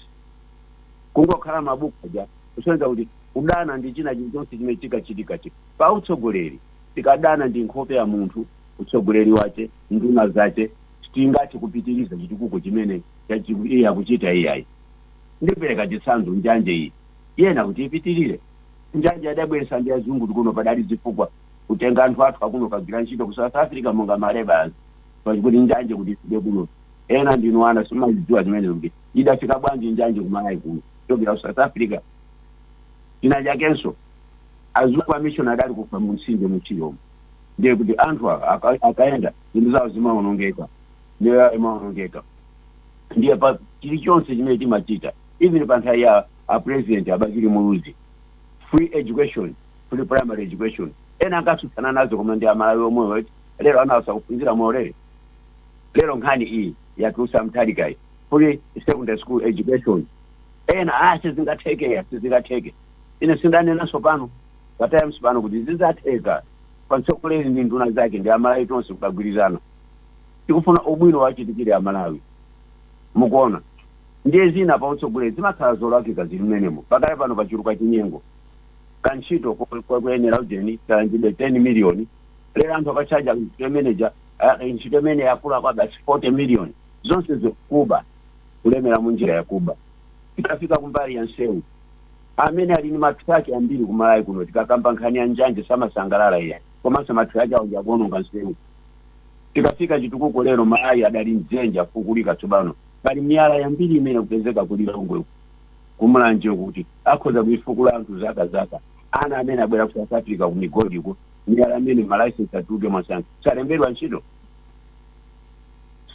kungokhala mabuku aja kusonyeza kuti kudana ndi china chilichonse chimene chikachitika chi pa utsogoleri tikadana ndi nkhope ya munthu utsogoleri wace nduna zace sitingathe kupitiriza chitukuko chimene chachi- iye akuchita iyayi ndipereka chitsanzo njanje iyi yena kuti ipitirire njanje adabweresa ndi azungu tikuno padali zifukwa kutenga anthu athu akuno kagwira ntchito ku south africa monga ma labourers pa- kuti njanje kuti ifike kuno ena ndinu ana simazidziwa zimenezo kuti idafika bwanji njanje kumalawi kuno kuchokera ku south africa china chakenso azungu amishoni adali kufa mu mtsinje mu Chiromo ndiye kuti anthu awa aka- akayenda zinthu zawo zimaonongeka miyoyo yawo imaonongeka ndiye pa chilichonse chimene timachita even pa nthawi ya apresident a Bakili muluzi free education, free primary education ena ankatsutsana nazo koma ndi amalawi omwewo eti lero ana awa sakuphunzira moulere lero nkhani iyi yatulutsa Mutharikayi free secondary school education ena ah sizingatheke sizingatheke ine sindanenanso pano pa times pano kuti zizatheka pa mtsogoleri ndi nduna zake ndi amalawi tonse tikagwirizana tikufuna ubwino wachitikire amalawi mukuona Ndiye zina pa utsogoleri zimakhala zolakika zili mmenemo. Pakali pano pachuluka chinyengo. Kantchito koyenera ujeni kalandidwe 10 million, lero anthu akatchaja ntchito manager, ah, ntchito imene yakula kwabasi 40 million. Zonse zo kuba, kulemera munjira ya kuba. Tikafika kumbali ya nseu, amene ali ndi ma truck ambiri ku Malawi kuno tikakamba nkhani ya njanji samasangalala iyayi, komanso ma truck awo ndi akuononga nseu. Tikafika chitukuko lero Malawi adali mdzenje afukulika tsopano. Pali miyala yambiri imene ikupezeka ku Lilongwe uku, ku Mulanje uku kuti akhoza kuifukula anthu zaka zaka. Ana amene abwera ku South Africa ku migodi uko, miyala imene ma license atuluke mwamsanga azalembedwa ntchito.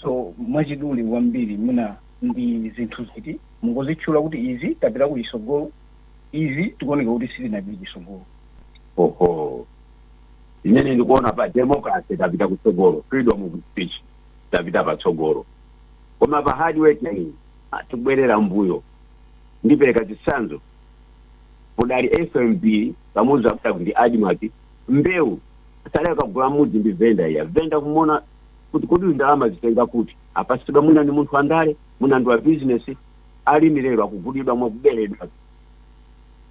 So mwachidule kwambiri mwina ndi zinthu ziti mungozitchula kuti izi tapita kuchitsogolo, izi tikuoneka kuti sitinapite chitsogolo. Oho. Imene ndikuona pa democracy tapita kutsogolo, freedom of speech tapita patsogolo. Koma pa hard working tikubwerera mmbuyo. Ndipereka chitsanzo, padali FMB, Kamuzu padali ndi Admarc, mbewu sadali kukagula mmudzi ndi vendor iyayi. Vendor kumuona kuti kodi uyu ndalama azitenga kuti? Apatsidwa mwina ndi munthu wandale, mwina ndi wa business. Alimi lero akugulidwa mwa kuberedwa.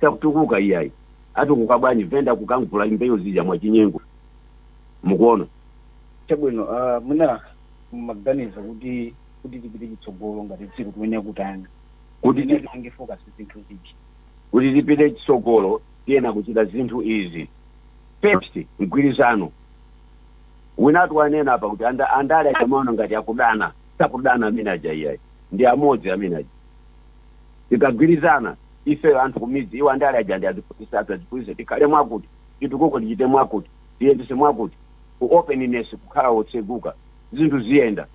Sakutukuka iyayi. Atukuka bwanji vendor kukamgula mbewu zija mwachinyengo? Mukuona? Chabwino, ah, mwina mumaganiza kuti kuti tipite chitsogolo ngati dziko tiyenera kutani Kuti tiyenera ti- tipange focus zinthu ziti kuti tipite chitsogolo tiyena kuchita zinthu izi first mgwirizano winatu wanena apa kuti anda- andale akamaona ngati akudana sakudana amene aja iyayi ndi amodzi amene aja tikagwirizana ifeyo anthu kumidzi iwo andale aja ndi azitiphunzitsa tikhale mwakuti chitukuko tichite mwakuti tiyendetse mwakuti u openness kukhala otseguka zinthu ziyenda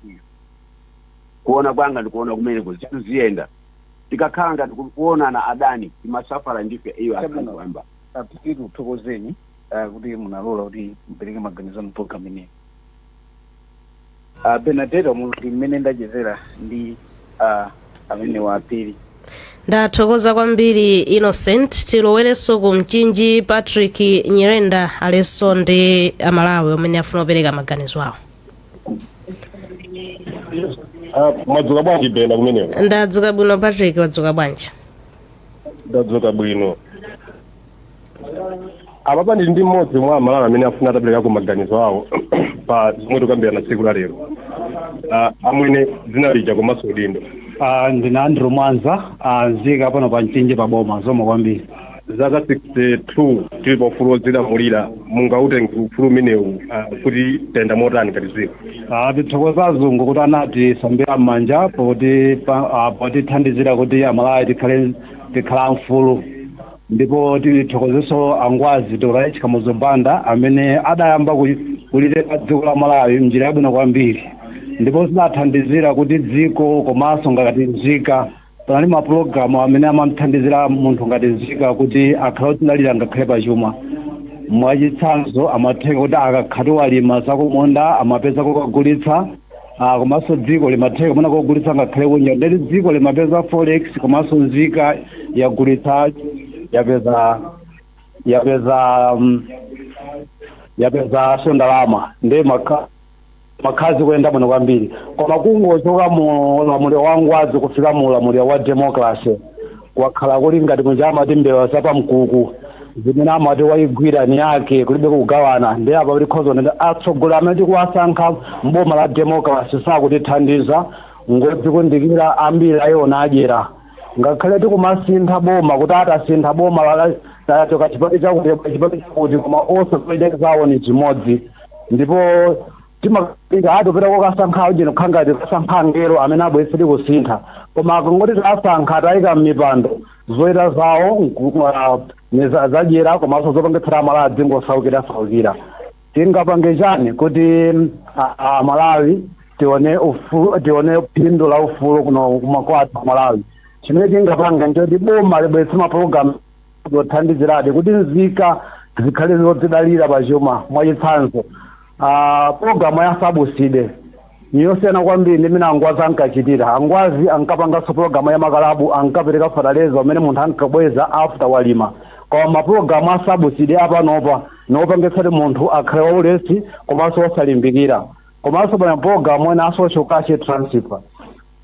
ndipo kuona kwanga ndikuona kumeneko zinthu ziyenda tikakhala ngati kuti kuonana adani timasafala ndife iwo akhala Chabwino. bambo a Phiri tikuthokozeni ah, kuti munalola kuti mupereke maganizo anu mu program ineyi A Benadeta umu ndi mmene ndachezera ndi a Phiri amenewa. ndathokoza kwambiri innocent tilowerenso ku mchinji patrick nyirenda alinso ndi amalawi amene afuna kupereka maganizo awo Ah, mwadzuka bwanji bena kumeneko ndadzuka bwino patrick wadzuka bwanji ndadzuka bwino apapa ndili ndi mmodzi mwa amalawi amene afuna ataperekako maganizo awo pa zomwe tikambirana tsiku la lero Ah, amwene dzina lija komanso udindo Ah, ndine andrew mwanza ah, nzika pano pa mchinji pa boma zikomo kwambiri zaka 62 tili pa ufulu wodzilamulira mungautenge ufulu umenewu ah, kuti tayenda motani ngati dziko Ah, tithokoza azungu kuti anatisambira m'manja poti pa- ah, potithandizira kuti amalawi tikhale mfulu Ndipo tithokozeso a Ngwazi Dr H Kamuzu Banda amene adayamba kuliteka dziko la Malawi mnjira yabwino kwambiri ndipo zidathandizira kuti dziko komaso ngati nzika panali ma program amene amamthandizira munthu ngati nzika kuti akhale odzidalira ngakhale pa chuma mwachitsanzo amatheka kuti akakhatu walima zakumunda amapeza kokagulitsa Ah, komanso dziko limatheka kumakagulitsa ngakhale kunja ndeti dziko limapeza forex komanso nzika yagulitsa yapeza yapeza um, yapezanso ndalama ndiye zimakha- zimakhala zikuyenda bwino kwambiri koma kungochoka mu ulamuliro wa ngwazi kufika mu ulamuliro wa democracy Kwakhala kuli ngati muja amati mbewa za pamkuku zimene amati waigwira ni yake kulibe kugawana ndiye apa tikhoza kunena kuti atsogoleri amene tikuwasankha m'boma la democracy sakutithandiza ngodzikundikira ambiri a iwo adyera ngakhale tikumasintha boma kuti atasintha boma la tachotsa chipani chakuti tabwera chipani chakuti koma onse zolinga zawo ni chimodzi ndipo Timaganiza, ah, tupita kokasankha uje nukhala ngati tikasankha angelo amene abweretsedi kusintha. Koma akangoti tawasankha, tawayika m'mipando, zochita zawo n'ku, ah, ndi za, zadyera komanso zopangitsira Amalawi adzingosaukirasaukira. Tingapange chani kuti ah, Amalawi tione ufu, tione phindu la ufulu kuno kuma kwathu ku Malawi? Chimene tingapange n'choti boma libweretse mapulogalamu. zothandiziradi kuti nzika zikhale zodzidalira pa chuma. Mwachitsanzo, a, pulogalamu ya sabuside ni yosiyana kwambiri ndi imene angwazi ankachitira. Angwazi ankapanganso pulogalamu ya makalabu, ankapereka fataleza amene munthu ankabweza after walima. Koma mapulogalamu a sabuside apanopa ni opangitsa kuti munthu akhale waulesi komanso wosalimbikira. Komanso pali mapulogalamu ena a social cash transfer.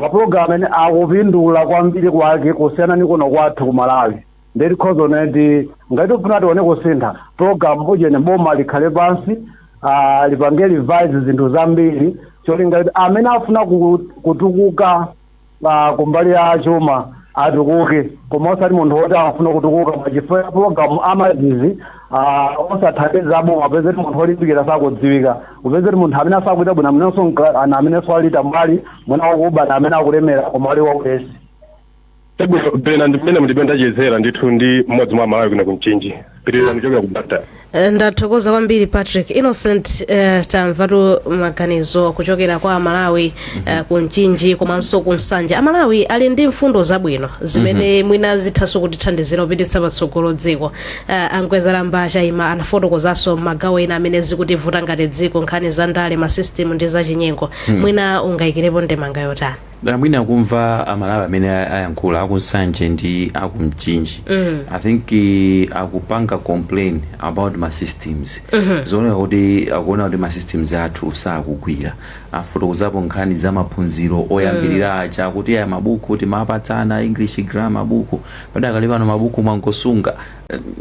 ma program amene akupindula kwambiri kwake kusiyana ni kuno kwathu ku Malawi nde tikhoza kunena kuti ngati tikufuna tione kusintha program ujene boma likhale pansi ah, lipange revise zinthu zambiri cholinga kuti amene afuna ku- kutukuka ah, kumbali ya chuma atukuke koma osati munthu woti afuna kutukuka mwachifukwa ya program amazizi Aaa osathandiza aboma upeze kuti munthu olimbikira sakudziwika upeze kuti munthu amene asakuchita bwino amenenso nka- ana- amenenso ali tambwali mwina wakuba ndi amene akulemera koma ali waulesi Chabwino pena ndi mmene mutipe ndachezera ndithu ndi mmodzi mwa Amalawi kuno ku Mchinji. Pitirizani kuchokera ku Blantyre. Eh, ndathokoza kwambiri Patrick Innocent eh, tamvatu maganizo kuchokera kwa amalawi eh, ku Mchinji komanso ku Nsanje amalawi ali ndi mfundo zabwino zimene mwina zithanso kutithandizira kupititsa patsogolo dziko Uh, a Mkwezalamba Chaima anafotokozanso magawo ena amene zikutivuta ngati dziko nkhani za ndale ma system ndi zachinyengo hmm. mwina ungayikirepo ndemanga yotani Na mwina kumva amalawi amene a- ayankhula aku Nsanje ndi aku Mchinji mm. i think eh, akupanga complain about ma systems mm-hmm. zioneka kuti akuona kuti ma systems athu sakugwira afotokozapo nkhani za maphunziro oyambirira aja kuti aya mabuku timapatsana english grammar buku Padakali pano mabuku mwangosunga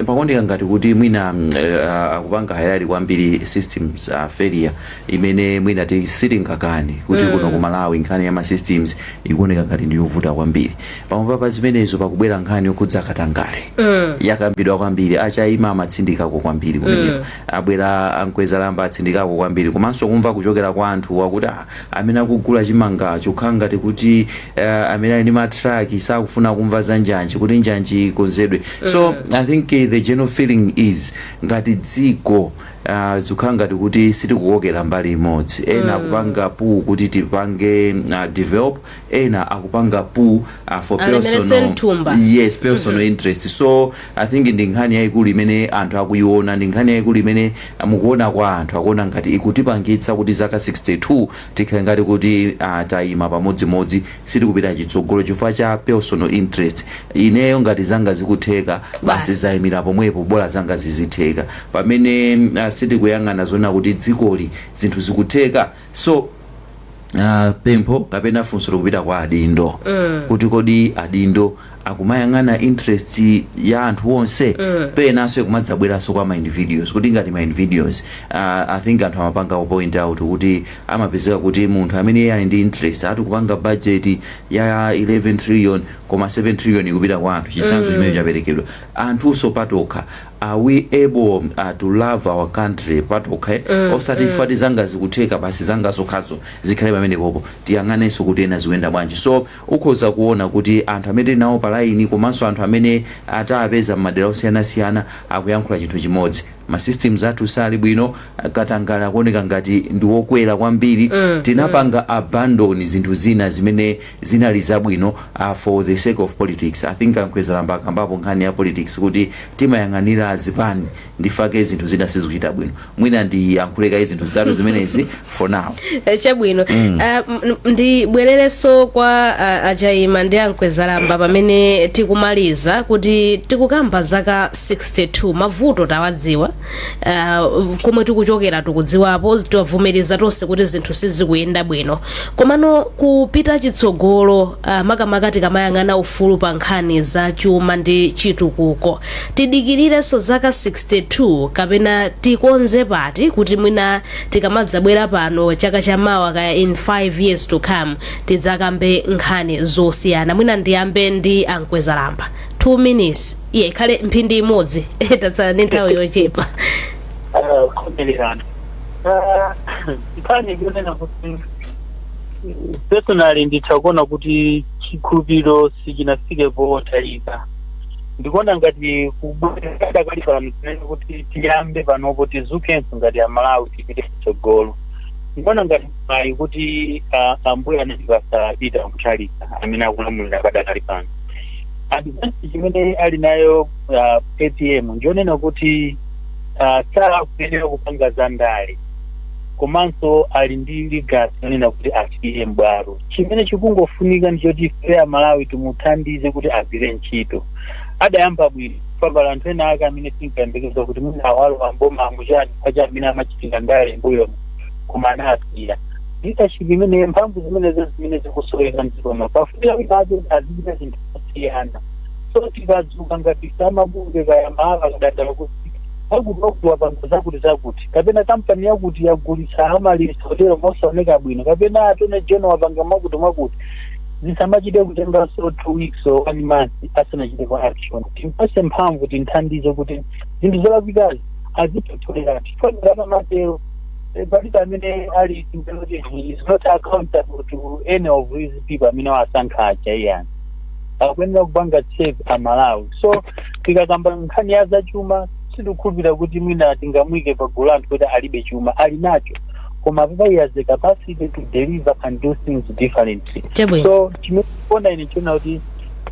pakuoneka ngati kuti mwina uh, akupanga highlight kwambiri systems uh, failure imene mwina ti sitingakani kuti mm. kuno ku Malawi nkhani ya ma systems ikuoneka ngati ndi yovuta kwambiri pamwamba pa zimenezo pakubwera nkhani yokhudza katangale mm. yakambidwa kwambiri a Chaima amatsindikako kwambiri kumeneko mm. abwera a Mkwezalamba atsindikako kwambiri komanso kumva kuchokera kwa anthu wakuti ah, amene akugula chimangacho kukhala ngati kuti uh, amene ali ndi matraki sakufuna kumva za njanji kuti njanji ikonzedwe so i think eh, the general feeling is ngati dziko uh, zikhala ngati kuti sitikukokera mbali imodzi ena akupanga pull kuti tipange uh, develop ena akupanga pu a for Alemeretse personal mthumba. yes personal interest so i think ndi nkhani yayikulu imene anthu akuyiona ndi nkhani yayikulu imene mukuona kwa anthu akuona ngati ikutipangitsa kuti zaka 62 tikhale ngati kuti ah, tayima pamodzimodzi sitikupita chitsogolo chifukwa cha personal interest ineyo ngati zanga zikutheka basi zayimira pomwepo bola zanga zizitheka pamene ah, sitikuyang'ana zonena kuti dzikoli zinthu zikutheka so uh, pempho kapena funso likupita kwa adindo mm. kuti kodi adindo akumayang'ana interest ya anthu onse mm. penanso kumadzabweranso kwa ma individuals kuti ngati ma individuals uh, i think anthu amapanga ku point out kuti amapezeka kuti munthu amene iye ali ndi interest atikupanga budget ya 11 trillion koma 7 trillion ikupita kwa anthu chitsanzo mm. chimene chaperekedwa anthunso patokha are we able uh, to love our country patokha eh? osati ife ati zanga zikutheka basi zanga zokhazo zikhale pamenepopo tiyang'anenso kuti ena zikuyenda bwanji so ukhoza kuona kuti anthu amene tili nawo palaini komanso anthu amene atapeza m'madera osiyanasiyana akuyankhula chinthu chimodzi masystems athu sali bwino katangale akuoneka ngati ndiwokwera kwambiri tinapanga abandon zinthu zina zimene zinali zabwino a for the sake of politics i think a mkwezalamba akambapo nkhani ya politics kuti timayang'anira zipani nchifukwa chake zinthu zina sizikuchita bwino mwina ndiyankhule kaye zinthu zitatu zimenezi for now Eh, chabwino mm. uh, ndibwererenso kwa uh, a Chaima ndi a Mkwezalamba pamene tikumaliza kuti tikukamba zaka 62 mavuto tawadziwa uh, komwe tikuchokera tikudziwapo tavomereza tonse kuti zinthu sizikuyenda bwino komano kupita chitsogolo uh, makamaka tikamayang'ana ufulu pa nkhani za chuma ndi chitukuko tidikirirenso zaka 62 kapena tikonze pati kuti mwina tikamadzabwera pano chaka cha mawa kaya in 5 years to come tidzakambe nkhani zosiyana mwina ndiyambe ndi a Mkwezalamba 2 minutes iye ikhale mphindi imodzi tatsala ndi nthawi yochepa Ah, kukomererana Ah, nkhani ikunena kuti personally nditha kuona kuti chikhulupiriro sichinafike potayika ndikuona ngati kubwera dakali pano tinene kuti tiyambe panopo tidzukenso ngati amalawi tipite kutsogolo ndikuona ngati mayi kuti ah, ambuye anatipasa apita kutalika amene akulamulira padakali pano advantage imene ali nayo uh, apm njonena kuti uh, sakuyenera kupanga za ndale komanso ali ndi legacy yonena kuti asiye mbwalo chimene chikungofunika ndi choti ife amalawi timuthandize kuti agwire ntchito adayamba bwino pambala anthu ena ake amene tinkayembekeza kuti mwina awalowa m'boma amuchani kwacha amene amachitira ndale mbuyomu koma anasiya leadership imene mphamvu zimenezo zimene zikusoweka mdziko muno pafunika kuti aje azichita zinthu zosiyana so tikadzuka ngati amabungwe kaya mahala akadandaula kuti akuti wakuti wapanga zakuti zakuti kapena kampani yakuti yagulitsa amaryllis hotel mosaoneka bwino kapena attorney general wapanga mwakuti mwakuti zisamachite kutenganso two weeks or one month asanachite kwa action timpase mphamvu tinthandize kuti zinthu zolakwikazi azipotolera chifukwa ngati amatero Eh, palibe amene ali kuti he is not accountable to any of these people amene wasankha aja iyayi akuyenera kupanga check amalawi so tikakamba nkhani ya zachuma sindikukhulupirira kuti mwina tingamuike pa gulu anthu kuti alibe chuma ali nacho koma papa he has the capacity to deliver and do things differently Chabwino. so chimene ndikuona ine nchonena kuti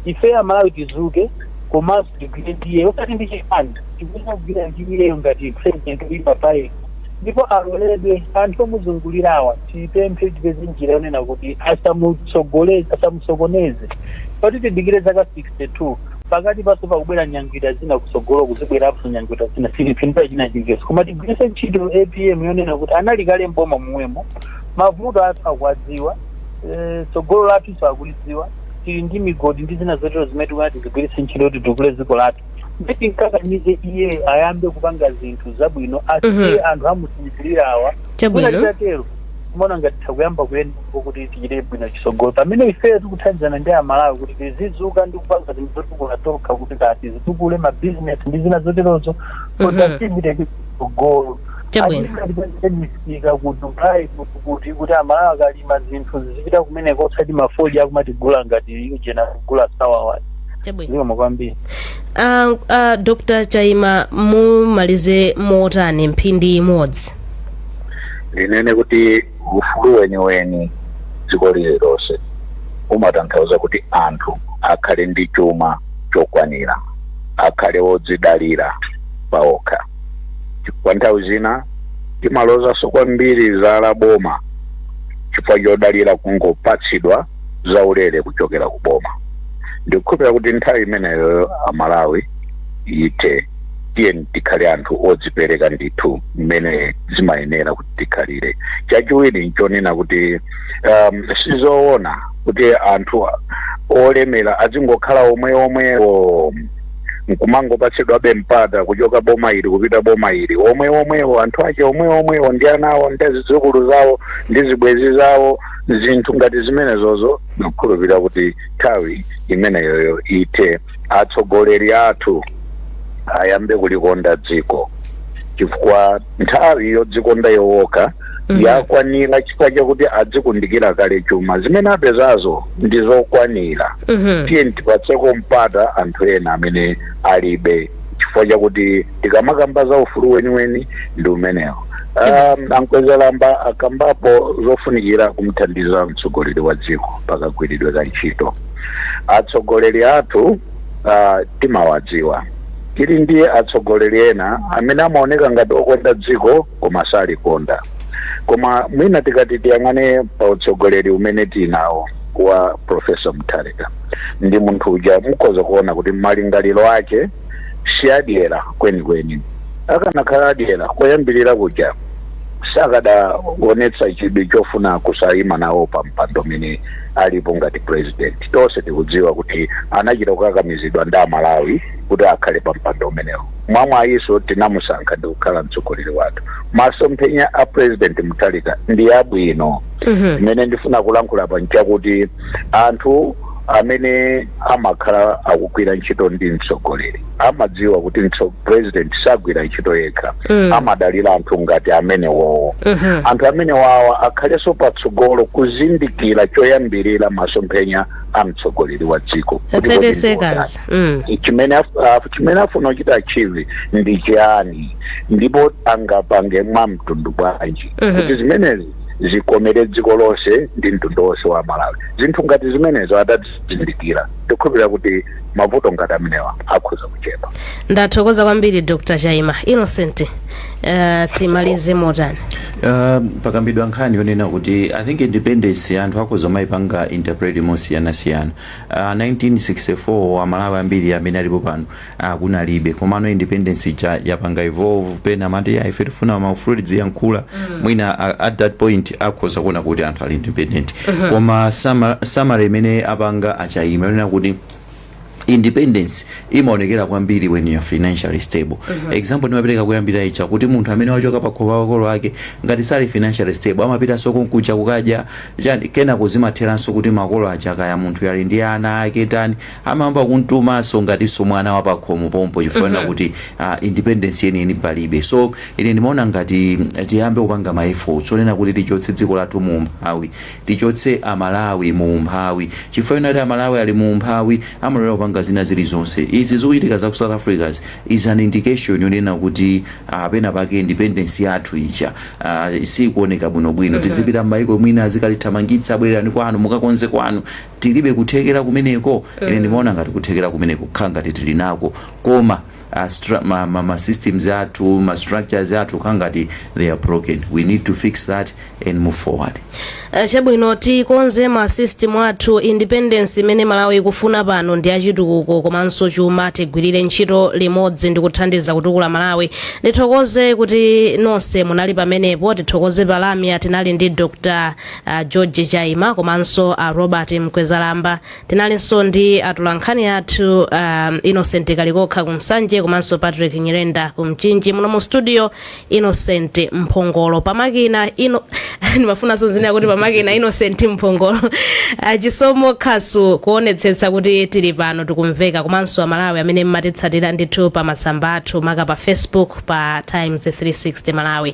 ife amalawi tizuke komanso tigwire ndi iye osati ndi chipani tikuyenera kugwira ndi iyeyo ngati president uyipa paye ndipo aloledwe anthu omuzungulirawa tipemphe tipeze njira yonena kuti asamusokoneze osati tidikire zaka 62 pakati panso pakubwera nyangwita zina kutsogolo kuzibweranso nyangwita zina sitipindula china chilichonse koma tigwiritse ntchito apm yonena kuti anali kale mboma momwemo mavuto athu akuwadziwa eh, tsogolo lathunso akulidziwa tili ndi migodi ndi zina zotero zimene tikuti tizigwiritse ntchito kuti titukule dziko lathu ndi timkakamize iyeyo ayambe kupanga zinthu zabwino Mhm. asiye anthu amusinjirira awa Chabwino. Mwina titatero timaona ngati tikuyamba kuyenda kuti tichite bwino chitsogolo pamene ifeyo tikuthandizana ndi amalawi kuti tizizuka ndi kupanga zinthu zotukula tokha kuti kati zitukule mabizinesi ndi zina zoterozo Mhm. kuti tipite chitsogolo Chabwino. misika ku dubai kuti kuti kuti amalawi akalima zinthu zizipita kumeneko osati mafodya akumatigula ngati ujeni kugula sawawa chabwino zikomo kwambiri uh, uh, dr chaima mumalize motani mphindi imodzi ndinene kuti ufulu weniweni mdziko lililonse umatanthauza kuti anthu akhale ndi chuma chokwanira akhale wodzidalira paokha chifukwa nthawi zina timalozanso kwambiri zala boma chifukwa chodalira kungopatsidwa zaulere kuchokera ku boma ndikukhulupirira kuti nthawi imeneyo amalawi ithe tiyeni tikhale anthu odzipereka ndithu mmene zimayenera kuti tikhalire chachiwiri nchonena kuti um, sizoona kuti anthu olemera azingokhala omwe omwewo nkumangopatsidwabe mpata kuchoka boma ili kupita boma ili omwe omwewo anthu ake omwe omwewo ndi ana awo ndi zidzukulu zawo ndi zibwenzi zawo zinthu ngati zimenezozo ndikukhulupirira kuti nthawi imeneyoyo ithe atsogoleri athu ayambe kulikonda dziko chifukwa nthawi yodzikonda yowokha Mhm. yakwanira chifukwa chakuti adzikundikira kale chuma zimene apezazo ndi zokwanira Mhm. tiye tipatseko mpata anthu ena amene alibe chifukwa chakuti tikamakamba za ufulu weniweni ndi umenewo Um, ankwezalamba akambapo zofunikira kumthandiza mtsogoleri wa dziko pakagwiridwe ka ntchito atsogoleri athu uh, timawadziwa tili ndi atsogoleri ena amene amaoneka ngati okonda dziko koma salikonda koma mwina tikati tiyang'ane pa utsogoleri umene tinawo wa profesa mutharika ndi munthu uja mukhoza kuona kuti malingaliro ake si adyera kwenikweni. Akanakhala adyera, koyambirira kuja sakadaonetsa chidwi chofuna kusaima nawo pampando umene alipo ngati pulezidenti. Tonse tikudziwa kuti anachita kukakamizidwa ndi Amalawi kuti akhale pampando umenewo. Mwamwayinso tinamusankha ndi kukhala mtsogoleri wathu. Masomphenya a Pulezidenti Mutharika ndi abwino. Chimene ndifuna kulankhula apa n'chakuti anthu amene amakhala akugwira ntchito ndi mtsogoleri amadziwa kuti mtso- president sagwira ntchito yekha Mm. amadalira anthu ngati amenewowo Mhm. anthu amenewawa akhalenso patsogolo kuzindikira choyambirira masomphenya a mtsogoleri wa dziko Kuti kodi 30 ndi seconds. Mm. wotani? chimene af- af- chimene afuna kuchita achieve ndi chiyani ndipo angapange mwa mtundu wanji Mhm. kuti zimenezi zikomere dziko lonse ndi mtundu wonse wa malawi zinthu ngati zimenezo atazizindikira tikukhulupirira kuti mavuto ngati amenewa akhoza kuchepa ndathokoza kwambiri dr chaima innocent uh, timalize motani Uh, pakambidwa nkhani yonena kuti i think independence anthu akhoza kumayipanga interpret mosiyanasiyana uh, 1964 amalawi ambiri amene alipo pano ah kunalibe komano independence ija yapanga evolve pena amati ya ife tifuna maufulu tidziyankhula mwina a- at that point akhoza kuona kuti anthu ali independent koma sama- summary imene apanga a chaima yonena kuti independence imaonekera kwambiri when you are financially stable example ndimapereka kumayambiriro ija kuti munthu amene wachoka pa khomo pamakolo ake ngati sali financially stable amapitanso konkuja kukadya chani kenako zimatheranso kuti makolo aja kaya munthu ali ndi ana ake tani amayamba kumutumanso ngatinso mwana wa pakhomo pompo chifukwa chonena kuti ah, independence yeniyeni palibe so ine ndimaona ngati tiyambe kupanga ma efforts onena kuti tichotse dziko lathu mu umphawi tichotse amalawi mu umphawi chifukwa chonena kuti amalawi ali mu umphawi amalolera kupanga zina zilizonse izi zikuchitika za ku south africa is an indication yonena kuti ah, pena pake independence yathu ija ah, sikuoneka bwinobwino tizipita m'mayiko mwina azikatithamangitsa bwererani kwanu mukakonze kwanu tilibe kuthekera kumeneko? Ine ndimaona ngati kuthekera kumeneko kukhala ngati tili nako koma a stra ma ma ma systems athu ma structures athu kukhala ngati they are broken we need to fix that and move forward. Eh, chabwino tikonze ma system athu independence imene malawi ikufuna pano ndi ya chitukuko komanso chuma tigwirire ntchito limodzi ndi kuthandiza kutukula malawi ndithokoze kuti nonse munali pamenepo tithokoze pa lamya tinali ndi dr a george chaima komanso a robert mkwezalamba tinalinso ndi atolankhani athu um, innocent kalikokha ku nsanje komanso patrick nyirenda ku mchinji muno mu studio innocent mphongolo pamakina ino ndimafuna ndinene kuti pamakina innocent mphongolo Ah, chisomo khasu kuonetsetsa kuti tili pano tikumveka komanso amalawi amene mmatitsatira ndithu pa masamba athu maka pa facebook pa times 360 malawi